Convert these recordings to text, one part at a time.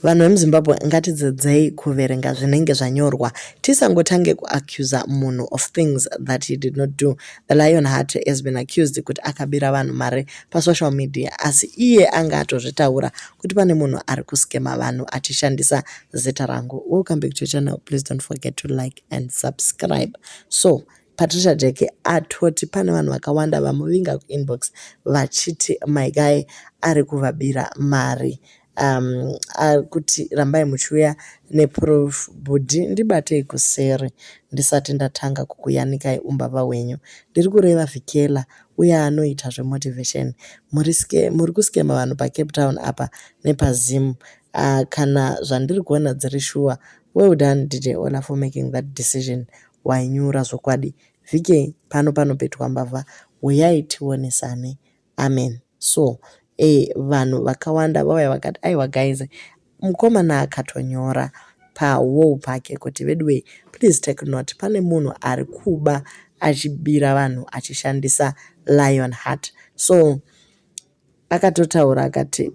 Vanhu vemuZimbabwe ngatidzidzei kuverenga zvinenge zvanyorwa tisangotange kuaccusa munhu of things that he did not do. The Lion Heart has been accused kuti akabira vanhu mari pasocial media asi iye anga atozvitaura kuti pane munhu ari kuskema vanhu achishandisa zita rangu. Welcome back to your channel. Please don't forget to like and subscribe. So Patricia Jackie atoti pane vanhu vakawanda vamuvinga kuinbox vachiti my guy ari kuvabira mari um, akuti rambai muchiuya neproof bhudhi ndibatei kuseri ndisati ndatanga kukuyanikai umbavha hwenyu ndiri kureva vikela uye anoita zvemotivation muri muri kuskema vanhu pacape town apa nepazim uh, kana zvandiri kuona dziri shuwa well done dj ola for making that decision wainyura zvokwadi VK pano panopetwa mbavha huyai tionesane amen so eh, vanhu vakawanda vauya vakati aiwa guys mukomana akatonyora pawall pake kuti veduwei please take note pane munhu ari kuba achibira vanhu achishandisa lion heart so akatotaura akati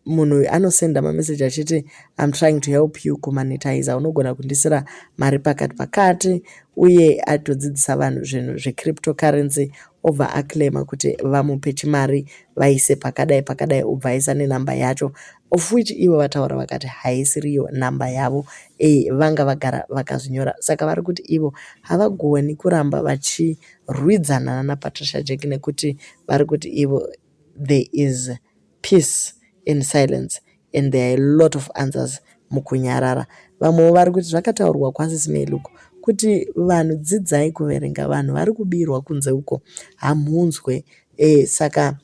munhu uyu anosenda mameseji achiti im trying to help you kumanitiza unogona kundisira mari pakati pakati uye atodzidzisa vanhu zvinhu zvecrypto currency obva aclaima kuti vamupe chimari vaise pakadai pakadai obva aisa nenhamba yacho of which ivo vataura vakati haisiriyo nhamba yavo e, vanga vagara vakazvinyora saka vari kuti ivo havagoni kuramba vachirwidzana nanapatricia jack nekuti vari kuti ivo there is peace in silence and there are a lot of answers mukunyarara vamwewo vari kuti zvakataurwa kwasisi meluko kuti vanhu dzidzai kuverenga vanhu vari kubirwa kunze uko hamhunzwe e, saka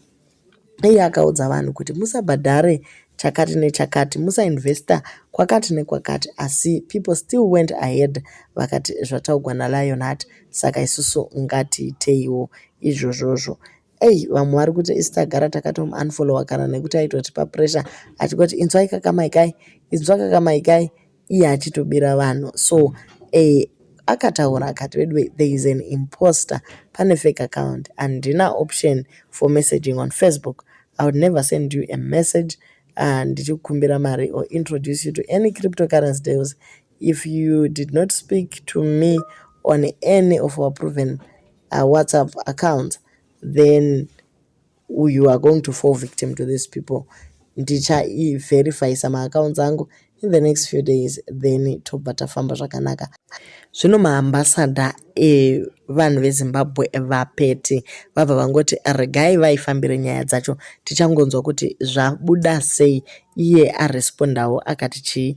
iye akaudza vanhu kuti musabhadhare chakati nechakati musainvesta kwakati nekwakati asi people still went ahead vakati zvataugwa nalion hat saka isusu ngatiiteiwo izvozvozvo Ei vamwe vari kuti isi tagara takatom unfollowa kana nekuti aitotipa pressure achikoti inzwai kakamaikai inzwa kakamaikai iye achitobira vanhu so eh, akataura akati veduwe there is an imposter pane fake account handina option for messaging on facebook i would never send you a message uh, ndichikukumbira mari or introduce you to any cryptocurrency deals if you did not speak to me on any of our proven uh, whatsapp accounts then you are going to fall victim to these people ndichaiverifyisa maaccounts angu in the next few days then tobva tafamba zvakanaka zvino maambasada evanhu vezimbabwe vapete vabva vangoti regai vaifambire nyaya dzacho tichangonzwa kuti zvabuda sei iye arespondawo akati chii